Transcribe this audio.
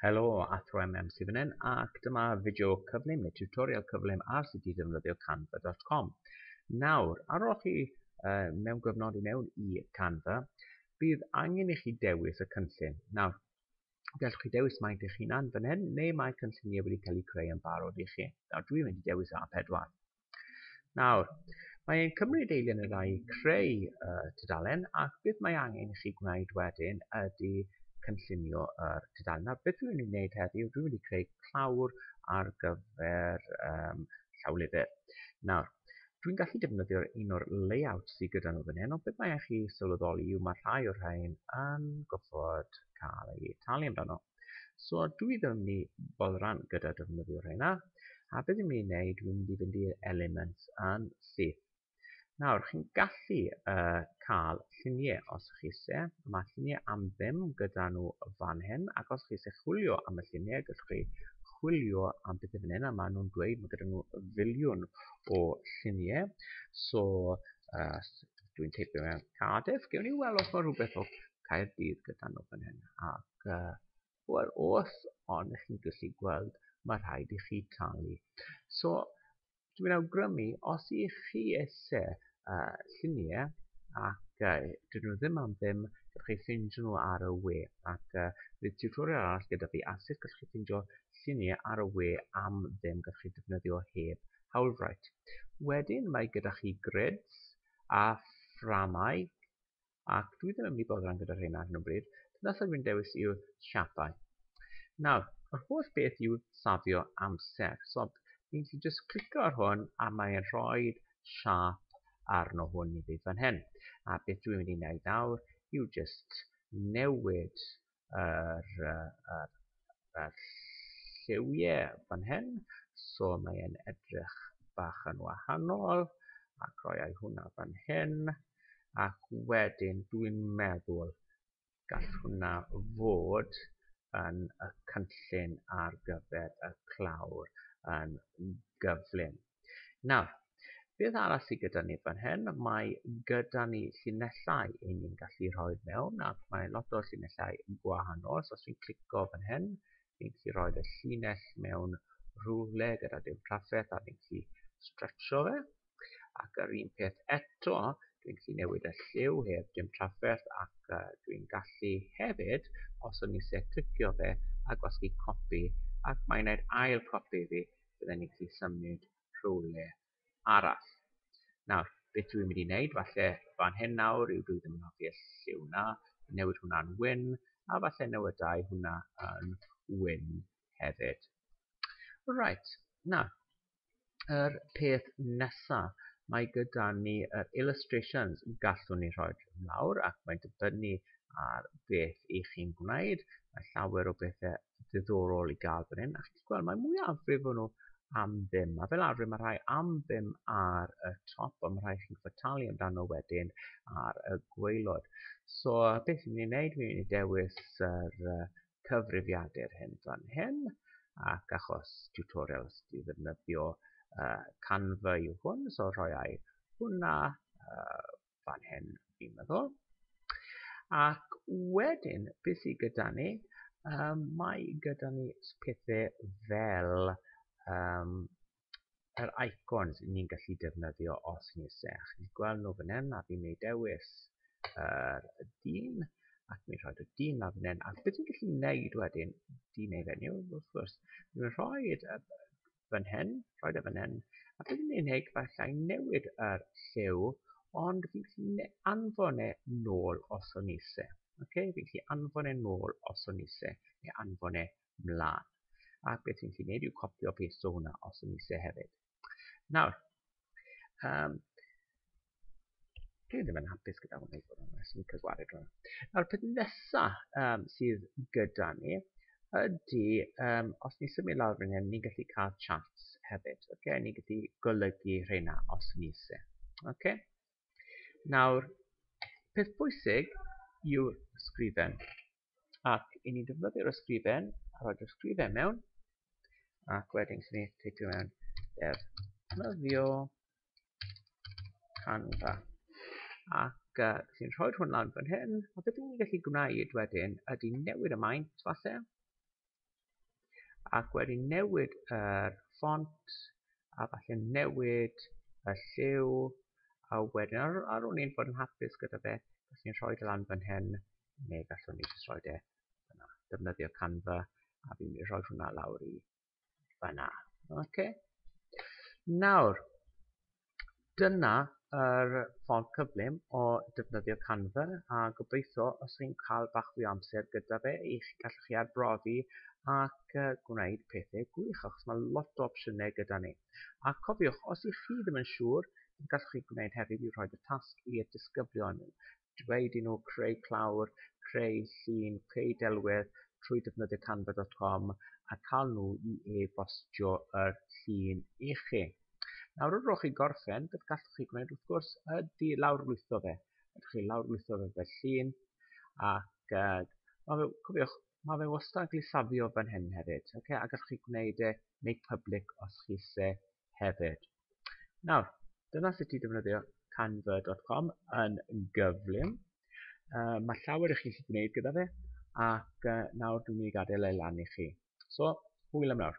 Helo, Athro MM sydd fan hyn ac dyma fideo cyflym neu tutorial cyflym ar sut i ddefnyddio canva.com. Nawr, ar ôl chi uh, mewn gyfnod i mewn i Canva, bydd angen i chi dewis y cynllun. Nawr, gallwch chi dewis maint eich hunan fan hyn neu mae cynlluniau wedi cael eu creu yn barod i chi. Nawr, dwi'n mynd i dewis A4. Nawr, mae ein cymryd eiliad neu ddau i creu y tudalen ac beth mae angen i chi gwneud wedyn ydy cynllunio yr tudalen. Nawr, beth dwi'n mynd i wneud heddiw, dwi'n mynd i creu clawr ar gyfer um, llawlyfr. Nawr, dwi'n gallu defnyddio'r un o'r layout sydd gyda nhw fan hyn, ond beth mae chi sylweddoli yw mae rhai o'r rhain yn gofod cael ei talu amdano. So dwi ddim yn mynd i boddran gyda defnyddio rheina, a beth dwi'n mynd i wneud, dwi'n mynd i fynd i'r element yn syth. Nawr, chi'n gallu uh, cael lluniau os chi eisiau. Mae lluniau am ddim gyda nhw fan hyn, ac os chi eisiau chwilio am y lluniau, gallwch chi chwilio am beth yw'n hyn, a maen nhw'n dweud, mae gyda nhw filiwn o lluniau. So, uh, dwi'n teipio mewn Cardiff, gewn ni weld os mae rhywbeth o Caerdydd gyda nhw fan hyn. A Uh, Wel, os ond ych chi'n gallu gweld, mae rhaid i chi talu. So, dwi'n awgrymu, os i chi eisiau uh, lluniau, ac uh, dyn nhw ddim am ddim, gallwch chi ffeindio nhw ar y we. Ac uh, bydd tutorial arall gyda fi a sut gallwch chi ffeindio lluniau ar y we am ddim gallwch chi defnyddio heb hawlfraint. Wedyn mae gyda chi grids a fframau ac dwi ddim yn mynd i boddran gyda rheina ar hyn o bryd, dyna sut dwi'n dewis i'w siapau. Nawr, yr holl beth yw safio amser. So, ni'n ti just clicio ar hwn a mae'n rhoi siap arno hwn i fi fan hyn. A beth dwi'n mynd i wneud nawr yw just newid yr, uh, yr, yr lliwiau fan hyn. So mae'n edrych bach yn wahanol ac roiau hwnna fan hyn ac wedyn dwi'n meddwl gall hwnna fod yn y cynllun ar gyfer y clawr yn gyflym. Nawr, beth arall sydd gyda ni fan hyn? Mae gyda ni llinellau i ni'n gallu rhoi mewn ac mae lot o llinellau yn gwahanol. So os fi'n clico fan hyn, fi'n gallu rhoi y llinell mewn rhywle gyda dim trafferth a fi'n gallu stretcho fe. Ac yr un peth eto, dwi'n gallu newid y lliw heb dim trafferth ac uh, dwi'n gallu hefyd, os o'n i se clicio fe, a gwasgu copi ac mae'n gwneud ail copi fi bydden ni'n gallu symud rhywle arall. Nawr, beth dwi'n mynd i wneud, falle fan hyn nawr yw dwi ddim yn hoffi y lliw na, newid hwnna'n wyn, a falle newydau hwnna yn wyn hefyd. Right, na, yr er peth nesaf, mae gyda ni yr er illustrations gallwn ni rhoi mawr ac mae'n dibynnu ar beth i chi'n gwneud. Mae llawer o bethau ddiddorol i gael fan hyn. A chi'n gweld, mae mwyafrif o'n nhw am ddim. A fel arfer, mae rhai am ddim ar y top, ond mae rhai chi'n gwybod talu amdano wedyn ar y gweilod. So, beth fi'n mynd i wneud? Fi'n mynd i dewis yr uh, cyfrifiadur hyn fan hyn, ac achos tutorials i ddefnyddio uh, Canva yw hwn, so rhoi ai hwnna, uh, fan hyn, fi'n meddwl. Ac wedyn, beth sydd gyda ni? Um, mae gyda ni pethau fel um, yr icons ni'n gallu defnyddio os ni eisiau. Chi'n gweld nhw fan hyn, a fi'n ei dewis yr uh, dyn, ac mi'n rhoi y dyn na fan hyn. A beth ni'n gallu gwneud wedyn, dyn ei fenyw, wrth gwrs, mi'n rhoi y fan hyn, rhoi fe fan hyn, a bydd yn unig falle i newid yr lliw, ond fi'n gallu anfon e nôl os o'n ise. Okay? Fi'n gallu anfon e nôl os o'n ise, neu anfon e mlaen. A beth fi'n gallu gwneud yw copio peth o hwnna os o'n ise hefyd. Nawr, um, Dwi ddim yn hapus gyda hwnna i fod yn nes, yn cyswaru drwy. Nawr, peth nesaf um, sydd gyda ni ydy, um, os ni symud lawr fan hyn, ni'n gallu cael chats hefyd. Okay? Ni'n gallu golygu rheina os ni se. Okay? Nawr, peth bwysig yw'r sgrifen. ac i ni defnyddio'r ysgrifen a rhoi'r ysgrifen mewn ac wedyn sy'n ei teipio mewn defnyddio Canva ac uh, sy'n rhoi hwn lan fan hyn a beth ni'n gallu gwneud wedyn ydy newid y maint falle ac wedyn newid yr ffont a falle newid y lliw a wedyn ar, ar ôl ni'n bod yn hapus gyda fe gallwn ni rhoi e lan fan hyn neu gallwn ni jyst rhoi e yna defnyddio Canva a fi'n mynd i rhoi hwnna lawr i fanna okay. nawr dyna yr ffordd cyflym o ddefnyddio canva a gobeithio os chi'n cael bach fwy o amser gyda fe i chi gallu chi arbrofi ac gwneud pethau gwych achos mae lot o opsiynau gyda ni a cofiwch os ych chi ddim yn siŵr gallwch chi gwneud hefyd i rhoi y tasg i'r disgyblion dweud i nhw creu clawr, creu llun, creu delwedd trwy defnyddio canva dot com a cael nhw i e-bostio yr llun i chi. Nawr wrth rowch chi gorffen, beth gallwch chi gwneud wrth gwrs ydy lawrlwytho fe. Ydych chi lawrlwytho fe fel llun ac uh, mae fe, cofiwch, mae fe wastad yn cael ei safio fan hyn hefyd. Okay? A gallwch chi gwneud e make public os chi se hefyd. Nawr, dyna sut i ddefnyddio canva.com yn gyflym. Uh, mae llawer i chi chi gwneud gyda fe, ac uh, nawr dwi'n mynd i gadael ei lan i chi. So, hwyl am nawr.